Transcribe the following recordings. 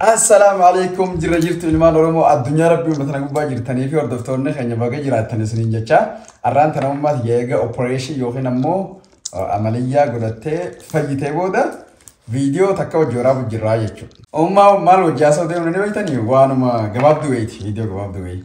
Assalaamu alaikum jirra jirtu ilmaan Oromoo addunyaa rabbii hunda tana gubbaa jirtanii fi hordoftoonni keenya baga jiraattan isiniin jecha har'aan tana ummaas eega operation yookiin ammoo uh, amaliyyaa godhattee fayyitee booda viidiyoo takka hojii waraabu jirraa jechuudha. Ummaa maal hojjaa soo deemnu ni beektanii waanuma gabaabduu wayiiti viidiyoo gabaabduu wayi.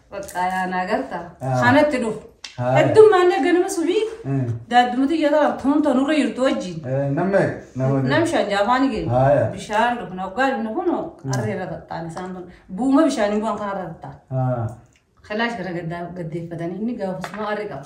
Baqqaa yaa naa garta. Ah. Kanatti dhufu. Haaya. Heddummaan ganama subii Eh, daaddumatti iyyataa tuun tanurra jirtu wajjin. eh, Nama nama Nam shan jaafaani Haaya. keenya. Bishaan dhufu na waggaa dhufna kun arreera taxxaan isaan kun. Buuma bishaanii bu'an kanarra taxxaan. Ah, Kalaash gara gaddaa gaddeeffatanii inni gaafasuma arri qaba.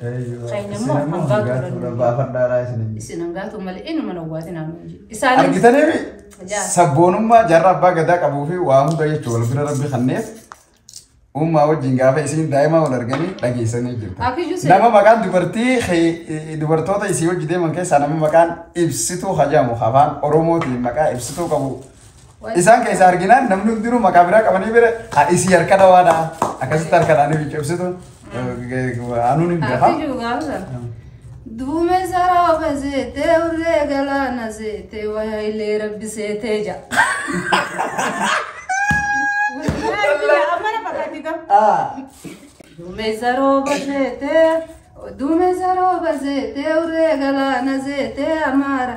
Keenya immoo hangaa turan. Baafadhaadhaa isin hin Isin hangaa turan malee eenyuma na waatin haa nuun jedhu. Isaan argitaniimi Yaa. sabboonummaa jaarraa abbaa gadaa qabuu fi waa hunda jechuudha wal bira rabbi kanneef uumaa wajjin gaafa isiin daa'imaa wal arganii dhageessanii jirtu. Akiyyuu seera. Nama maqaan dubartii kee- dubartoota isii hojii deeman keessaa nama maqaan ibsituu hajaamu afaan oromootiin maqaa ibsituu qabu Isaan keessaa arginaan namni hundinuu maqaa biraa qabanii bira ha isii harka dhawaadha. Akkasitti harka dhaanii fi cibsitu. Anuun hin beekaa. Ati juugaasa. Duume sarooba seetee urree galaana seetee waya illee rabbi seetee ja. Duume sarooba seetee duume sarooba seetee urree galaana seetee amaara.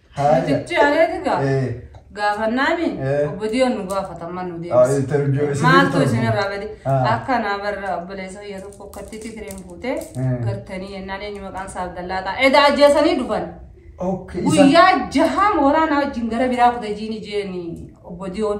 Haaya. Nuti areeti gaa. Eh, Gaafannaani Eh. obbo Diyoon nu gaafatamma nu ah, interview deebisa. isin Maaltu jirtu. isin irraa gadi? Ah. Akka naa barra obboleessa biyya tokko akkatti tikireen fuutee Eh. gartanii yennaan eenyu maqaan isaa Abdallaa ta'a. Edaa ajjeesanii dhufan. Okay, isa- Guyyaa jahaan waraanaa wajjin gara biraa kuta jiini jeeni obbo Diyoon.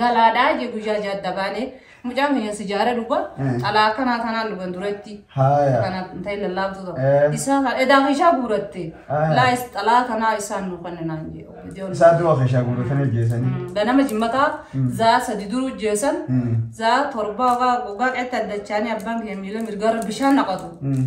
galaadha je guyyaa ja'a adda baane mucaan keenya sijaara dhuga Eh. xalaa akkanaa tanaan dhugan duratti Haaya. kana ta'e lallaabtu ta'u Eh. isaa kan edaa keeshaa guuratte Ah. laayis xalaa kanaa isaan nu kenninaan jedhu Ijoollee. Isaa du'a keeshaa guuratanii ajjeesanii. Mm, ganama jimmataa Mm. zaa sadi duruu jeesan Mm. zaa torbaa ogaa ogaa qeetti addachaanii abbaan keenya miila mirgaarra bishaan naqatu Mm.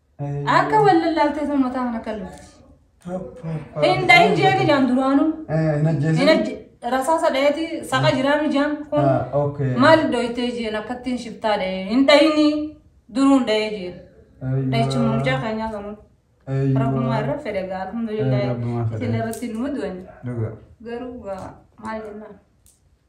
Akka wal lallaaltee sun mataa kana kan lufti. Hin dhahin jeeni jaan duraanuu. Hin ajjeesin. Hin ajje rasaasa dhaheeti saqa jiraanu jaan kun Ah, okay. maal dhoytee jeen akkattiin shiftaa dhahe hin dhahini duruun dhahe jeen. Aywa. Dhahichuma mucaa keenyaa kanuun. Aywa. Rabbumaa irra fedhe gaa alhamdulillah. Eh, Rabbumaa fedhe. Isin irratti numa du'an. Dhugaa. Garuu gaa maal jennaan.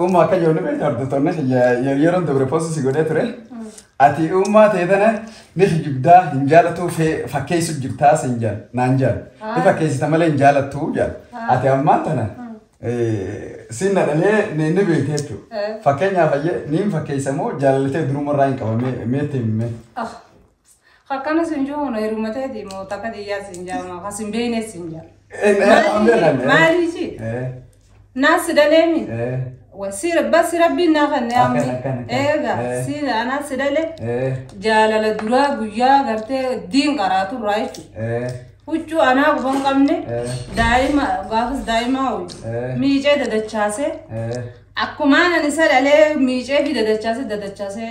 Uumma akka jiru ni beektu hordoftoonni kiyya yeroon dabre poostii si godhee ture. Ati uummaa ta'e tana ni kijibdaa hin jaalatu fakkeessu jirtaa siin jaal naan jaal. Ni fakkeessita malee hin jaalattu jaal. Ati ammaan tana siin na dhalee ni ni beekte jechuudha. Fakkeenyaaf ayyee niin fakkeessa moo jaalallatee durumarraa hin qabamee meetti himmee. Pls akkana sin juun heruma teeti moo takka tiyyaa sin jaama ka sin beeyne sin jaa. Eh, eh, an beekan, eh. Maalii si? Eh, Naas si dhaleemi? eh, Wa si bassi rabbiin naa kan Akkan, ammi. akkan, akkan. Eega Eh. si anaas si dhale eh, jaalala duraa guyyaa gartee diin qaraatu irraa jechuudha. eh, Huccuu anaa guban qabne Eh. daa'ima gaafas daa'ima ho'i Eh. miicee dadachaasee eh. akkumaan ani isa dhalee miicee fi dadachaasee dadachaasee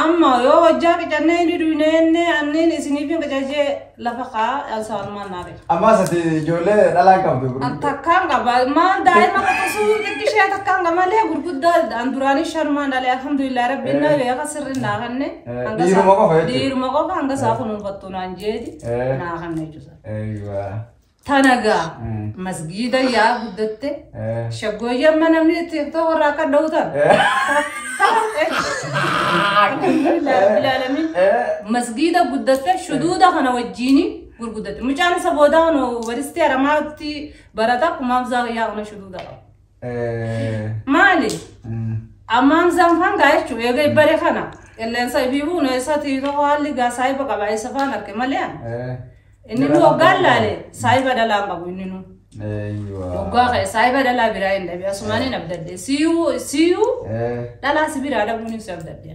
Amma yoo hojjaa qicannee inni duynee inni anniin isiniif hin qicajee lafa kaa alsaanumaan naa beeka. Ammaas ati ijoollee dhalaan qabdu. An takkaan qaba maal daa'ima qotasuu xiqqishee takkaan qaba malee gurguddaa an duraanii shanumaan dhalee alhamdulillah rabbiin naa beeka sirriin naa kanne. hanga isaa- Dhiiruma qofa jechuudha. Dhiiruma qofa hanga isaa kunuunfattu naan jeeti Eh. naa kanne jechuudha. Eeyyuu. Tana gaa masgiida yaa guddatte shaggooyyee amma namni itti himtoo warra akka dha'u tan. Ilaalamiin masgiida guddatte shuduuda kana wajjiini gurguddatte. Mucaan isa boodaa waristee aramaatti barata kumaaf zaa yaa ona shuduuda qaba. Maali? Ammaan isaan faan gaa jechuun eega ibbare kana qilleensa ibiibuu neessa tiitoo haalli gaa saayiba qaba isa faan arke malee inni nu hoggaan laale saayiba dhalaan qabu inni nu. Hoggaa ka'e saayiba dhalaa biraa hin dhabe asumaan hin abdadde siyuu siyuu dhalaa si biraa dhabuun ibsa abdadde.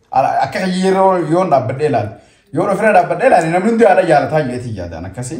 Ala- Akka kiyya yeroo yoon dhaabbadhee ilaale. Yoon ofirra dhaabbadhee ilaale namni hundi haadha jaalataa jedheetiin yaadaan akkasii.